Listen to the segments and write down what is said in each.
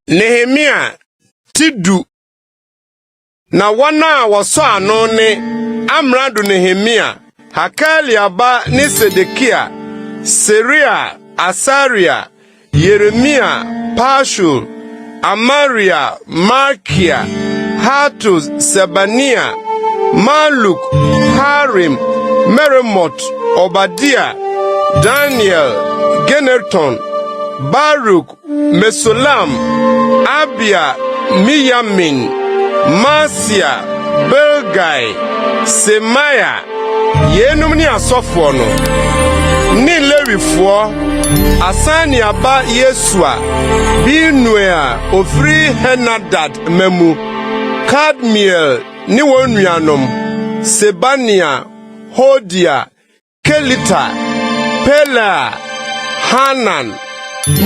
Nehemia ti du na wɔn a wɔsɔ ano ne amrado Nehemia, Hakalia ba ne Sedekia, Seria, Asaria, Yeremia, Pashur, Amaria, Malkia, Hatus, Sebania, Maluk, Harim, Meremot, Obadia, Daniel, Gineton, Baruk, Mesulam, Abia, Miyamin, Maaseia, Bilgai, Semaia, Yeinom ne asɔfoɔ no, ne Lewifoɔ, asan ne aba Yesua, Binui a ɔfiri Henadad mma mu, Kadmiel ne wɔn nuanom, Sebania, Hodia, Kelita, Pelaa, Hanan,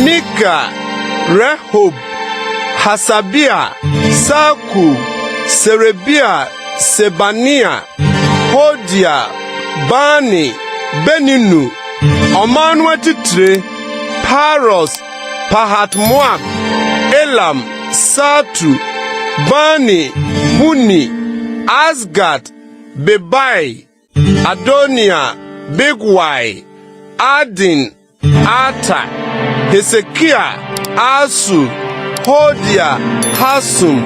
Mika, Rehob, Hasabia, Sakur, Serebia, Sebania, Hodia, Bani, Beninu, ɔman no atitire, Paros, Pahat-Moab, Elam, Satu, Bani, Buni, Asgat, Bebai, Adoniya, Bigwai, Adin, Ater, Hesekia, Asur, Hodia, Hasum,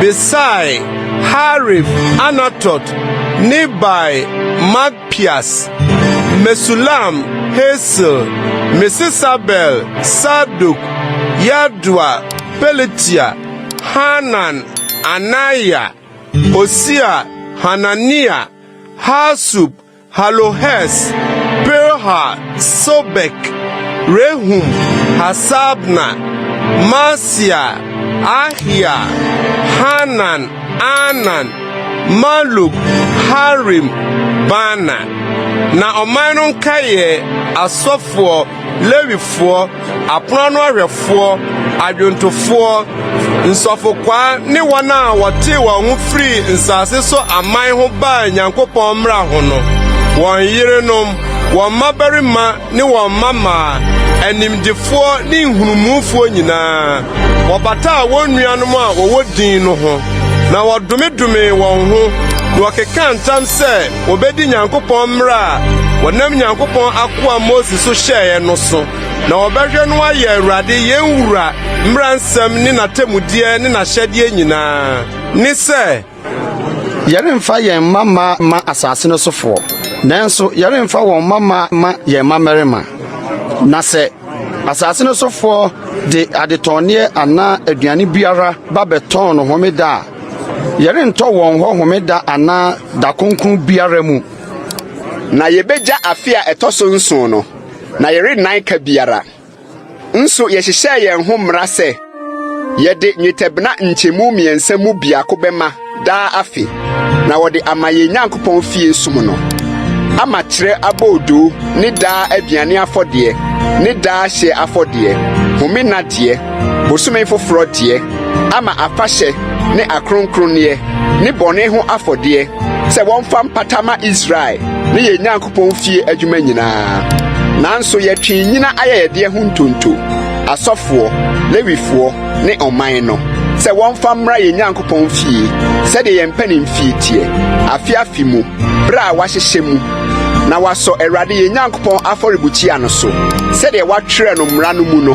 Besai, Harif, Anatot, Nibai, Magpias, Mesulam, Hesil, Mesesabel, Sadok, Yadua, Pelatia, Hanan, Anaya, Hosea, Hanania, Hasub, Halohes, Pirha, Sobek, Rehum, Hasabna, Maaseia, Ahiya, Hanan, Anan, Maluk, Harim, Baana. Na ɔman no nkae yɛ asɔfoɔ Lewifoɔ, apono ano ahwɛfoɔ, adwontofoɔ, nsɔfokwaa ne wɔn a wɔtee wɔn ho firii nsase so aman ho baa Nyankopɔn mmara ho no, wɔn yerenom, wɔn mmabarima ne wɔn mmammaa, animdefoɔ ne nhunumufoɔ nyinaa, wɔbataa wɔn nuanom a wɔwɔ din no ho, na wɔdomedomee wɔn ho, na wɔkekaa ntam sɛ, Wobedi Nyankopɔn mmara a wɔnam Nyankopɔn akoa Mose so hyɛeɛ no so, na wɔbɛhwɛ no ayɛ Awurade yɛn Wura mmara nsɛm ne n'atemmudeɛ ne n'ahyɛdeɛ nyinaa, ne sɛ, Yɛremfa yɛn mma mma mma asase no sofoɔ, nanso yɛremfa wɔn mma mma mma yɛn mmammarima. Na sɛ asase no sofoɔ de adetɔnneɛ anaa aduane biara ba bɛtɔn no homeda a, Yɛrentɔ wɔn hɔ homeda anaa da kronkron biara mu. Na yebegya afe a ɛtɔ so nson no, na yɛrennan ka biara. Nso yɛhyehyɛɛ yɛn ho mmara sɛ yɛde nnwetɛbena nkyɛmu mmiɛnsa mu biako bɛma daa afe, na wɔde ama yɛn Nyankopɔn fie som no, ama kyerɛ aboodoo ne daa aduane afɔdeɛ ne daa hyeɛ afɔdeɛ, home nna deɛ. Bosome foforɔ deɛ, ama afahyɛ ne akronkronneɛ ne bɔne ho afɔdeɛ sɛ wɔmfa mpata ma Israel ne yɛn Nyankopɔn fie adwuma nyinaa. Nanso yɛtwee nnyina ayɛyɛdeɛ ho ntonto, asɔfoɔ, Lewifoɔ, ne ɔman no, sɛ wɔmfa mmra yɛn Nyankopɔn fie sɛdeɛ yɛn mpanimfie teɛ, afe afe mu, berɛ a wɔahyehyɛ mu, na wɔasɔ Awurade yɛn Nyankopɔn afɔrebukyia no so sɛdeɛ wɔatwerɛ no mmara no mu no.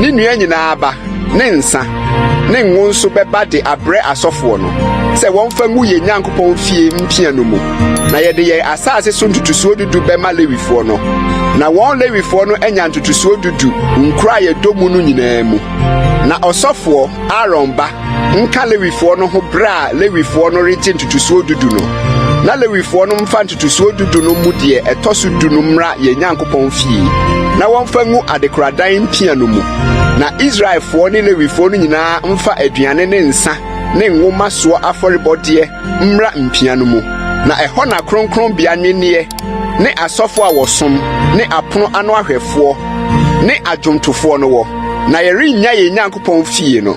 Ne nnua nyinaa aba ne nsã ne ngo nso bɛba de abrɛ asɔfoɔ no sɛ wɔmfa ngu yɛn Nyankopɔn fie mpia no mu, na yɛde yɛn asase so ntotosoɔ dudu bɛma Lewifoɔ no. Na wɔn Lewifoɔ no anya ntotosoɔ dudu nkuro a yɛdɔ mu no nyinaa mu. Na ɔsɔfoɔ Aaron ba nka Lewifoɔ no ho berɛ a Lewifoɔ no regye ntotosoɔ dudu no, na Lewifoɔ no mfa ntotosoɔ dudu no mu deɛ ɛtɔ so du no mmra yɛn Nyankopɔn fie, na wɔmfa ngu adekoradan mpia no mu. Na Israelfoɔ ne Lewifoɔ no nyinaa mfa aduane ne nsã ne ngo mma soɔ afɔrebɔdeɛ mmra mpia no mu, na ɛhɔ na kronkronbea nnwenneɛ ne asɔfoɔ a wɔsom ne apono ano ahwɛfoɔ ne adwomtofoɔ no wɔ, na yɛrennya yɛn Nyankopɔn fie no.